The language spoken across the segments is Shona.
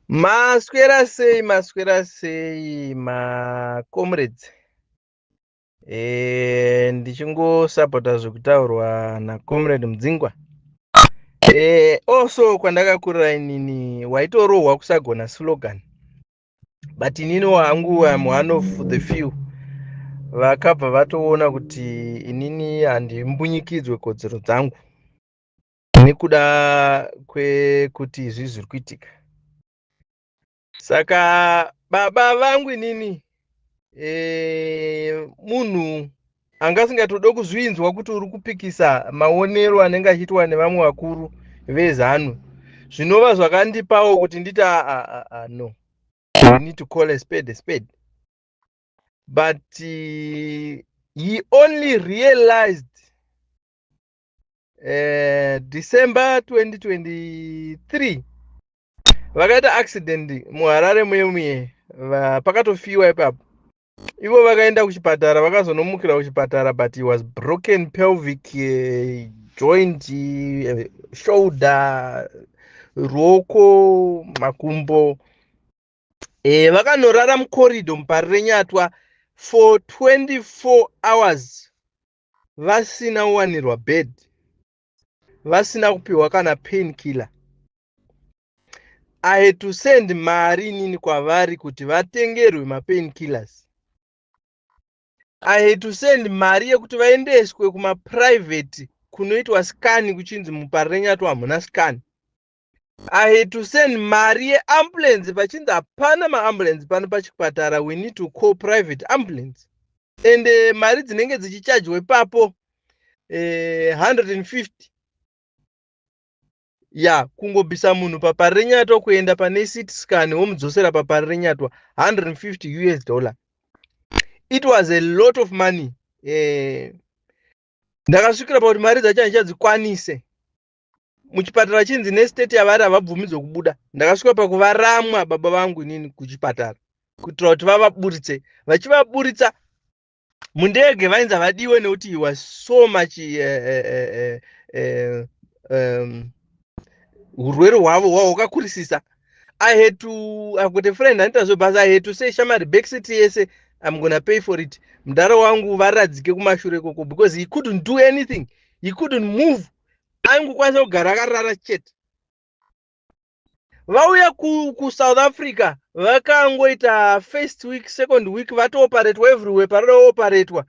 Maswera sei maswera sei ma comrades eh ndichingosapota zvekutaurwa na comrade Mudzingwa eh also kwandakakurira inini waitorohwa kusagona slogan but inini wangu am one of the few vakabva vatoona kuti inini handimbunyikidzwe kodzero dzangu nekuda kwekuti izvi zviri kuitika saka baba vangu inini e, munhu anga asingatode kuzvinzwa kuti uri kupikisa maonero anenge achiitwa nevamwe vakuru vezanu zvinova zvakandipawo kuti nditi aa ah, ah, ah, no we need to call a spade a spade but uh, he only realized eh, december 2023 vakaita accident muharare muye muye pakatofiwa ipapo ivo vakaenda kuchipatara vakazonomukira kuchipatara but he was broken pelvic eh, joint eh, shoulder ruoko makumbo e, vakanorara mukorido mupari renyatwa for 24 hours vasina kuwanirwa bed vasina kupiwa kana pain killer i had to send mari inini kwavari kuti vatengerwe mapain killers i had to send mari yekuti vaendeswe kumaprivate kunoitwa scan kuchinzi muparenyatu hamuna scan i had to send mari yeambulance vachinzi hapana maambulance pano pachipatara we need to call private ambulance and uh, mari dzinenge dzichichajwa ipapo uh, eh, 150 ya kungobvisa munhu papari renyatwa kuenda pane city scan womudzosera papari renyatwa 150 us dollar it was a lot of money eh, ndakasvikira pakuti mari dzacho handichadzikwanise muchipatara chinzi nestate yavari havabvumidzwe kubuda ndakasvika pakuvaramwa baba vangu inini kuchipatara kuitira kuti vavaburitse vachivaburitsa mundege vainzi havadiwe nekuti he was so much eh, eh, eh, um, urwere hwavo hwavo hwakakurisisa i had to i've got a friend anoita zvebhasa i had to say shamari backseat yese i'm gonna pay for it mudhara wangu varadzike kumashure ikoko because he couldn't do anything he couldn't move aingokwanisa kugara akarara chete vauya kusouth ku africa vakangoita first week second week vatooperatwa everywhere paroda ooperatwa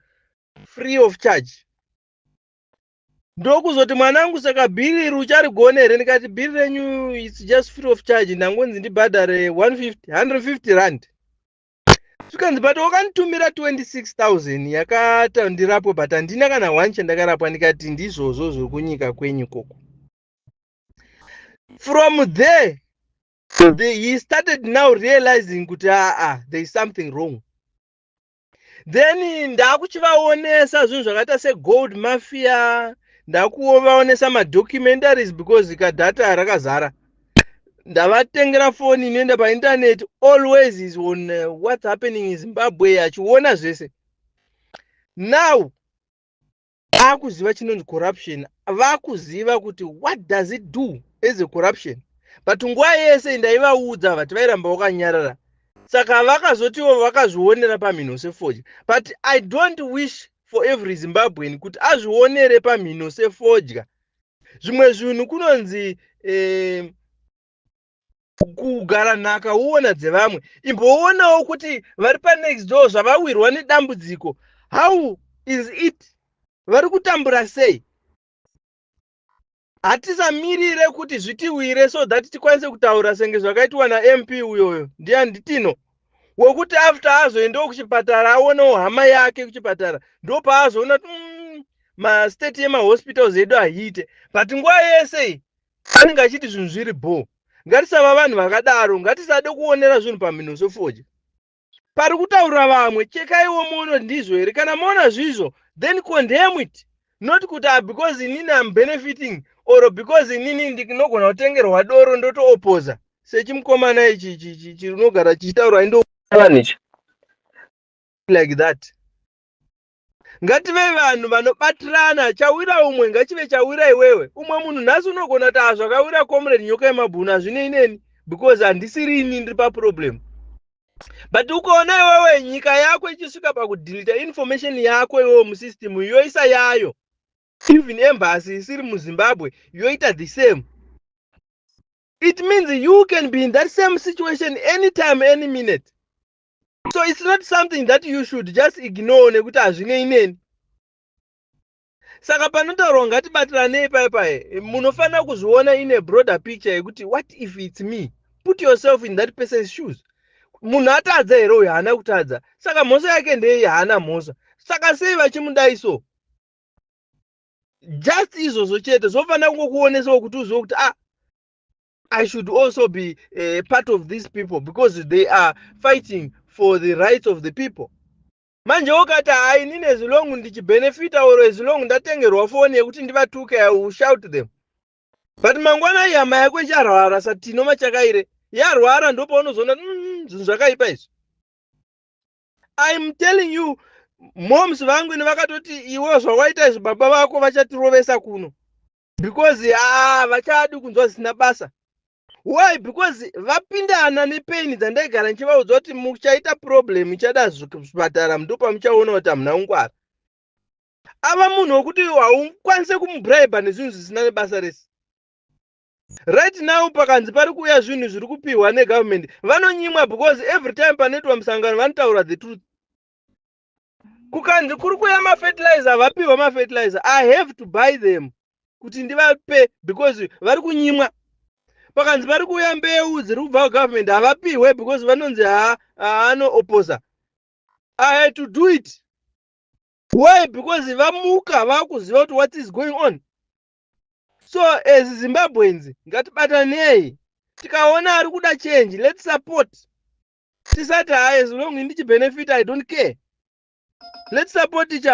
free of charge ndokuzoti mwana wangu saka bhiri iri ucharigona here ndikati bhiri renyu its just free of charge ndangonzi ndibhadhare 150 150 rand zvikanzi but wakanditumira 26000 yakata ndirapwe but handina kana one chandakarapwa ndikati ndizvozvo zviri kunyika kwenyu koko from there the, he started now realizing kuti aa ah, ah, there is something wrong then ndakuchivaonesa zvinhu zvakaita segold mafia ndakuvaonesa madocumentaries because kadhata rakazara ndavatengera foni inoenda paintaneti always is on uh, what's happening in zimbabwe achiona zvese now akuziva chinonzi corruption vakuziva kuti what does it do as a corruption but nguva yese ndaivaudza vati vairamba vakanyarara saka vakazotiwo vakazvionera pamhino sefoja but i don't wish for every zimbabwean kuti azvionere pamhino sefodya zvimwe zvinhu kunonzi eh, kugara nhaka woona dzevamwe imboonawo kuti vari panext door zvavawirwa nedambudziko how is it vari kutambura sei hatisamirire kuti zvitiwire so that tikwanise kutaura senge zvakaitwa namp uyoyo ndiani nditino wekuti after azoendawo kuchipatara aonewo hama yake kuchipatara ndo paazoona kuti mm, mastate yemahospitals edu ahiite but nguva yese iyi anenge achiti zvinhu zviri bho ngatisava vanhu vakadaro ngatisade kuonera zvinhu pamhino sofoja pari kutaura vamwe chekaiwo muono ndizvo here kana moona zvizvo then condemn it not kuti ah, because inini am benefiting or because inini ndinogona kutengerwa doro ndotoopoza sechimukomana ichi chinogara chichitaura indoani ichi like that ngative vanhu vanobatirana chawira umwe ngachive chawira iwewe umwe munhu nhasi unogona kuti hazvakawira comrade nyoka yemabhunu hazvinei neni because handisiri ini ndiri paproblem but ukaona iwewe nyika yako ichisvika pakudhilita information yako iwewe musystem yoisa yayo even embasy isiri muzimbabwe yoita the same it means you can be in that same situation anytime any minute so it's not something that you should just ignore nekuti hazvinei neni saka panotaurwa ngatibatiranei paye paye munofanira kuzviona in a broader picture yekuti what if it's me put yourself in that person's shoes munhu atadza here uyo haana kutadza saka mhosva yake ndeyei haana mhosva saka sei vachimudai so just izvozvo chete zvofanira kungokuonesawo kuti uzive kuti ah i should also be uh, part of these people because they are fighting for the rights of the people manje wokati hainini as long ndichibenefita or as long ndatengerwa foni yekuti ndivatuke i will shout them but mangwana ihama yako icharwara satino machakaire yarwara ndopaunozoona mm, zvinhu zvakaipa izvi I'm telling you moms vangu ini vakatoti iwe zvawaita izvi baba vako vachatirovesa kuno because ah vachadi kunzwa zvisina basa why because vapindana nepain dzandaigara ndichivaudza kuti muchaita problem ichada zvipatara ndo pamuchaona kuti hamuna kungwara ava munhu wekuti haukwanise kumubribe nezvinhu zvisina nebasa rese Right now pakanzi pari kuuya zvinhu zviri kupihwa negovernment vanonyimwa because every time panoitwa musangano vanotaura the truth. Kukanzi kuri kuuya mafertilizer vapihwa mafertilizer I have to buy them kuti ndivape because vari kunyimwa. Pakanzi pari kuuya mbeu dziri kubva government havapihwe because vanonzi haanoopposa. I had to do it. Why? Because vamuka vakuziva kuti what is going on. so as zimbabweans ngatibatanei tikaona ari kuda change let support tisati ha as long ndichibenefita i don't care let support each other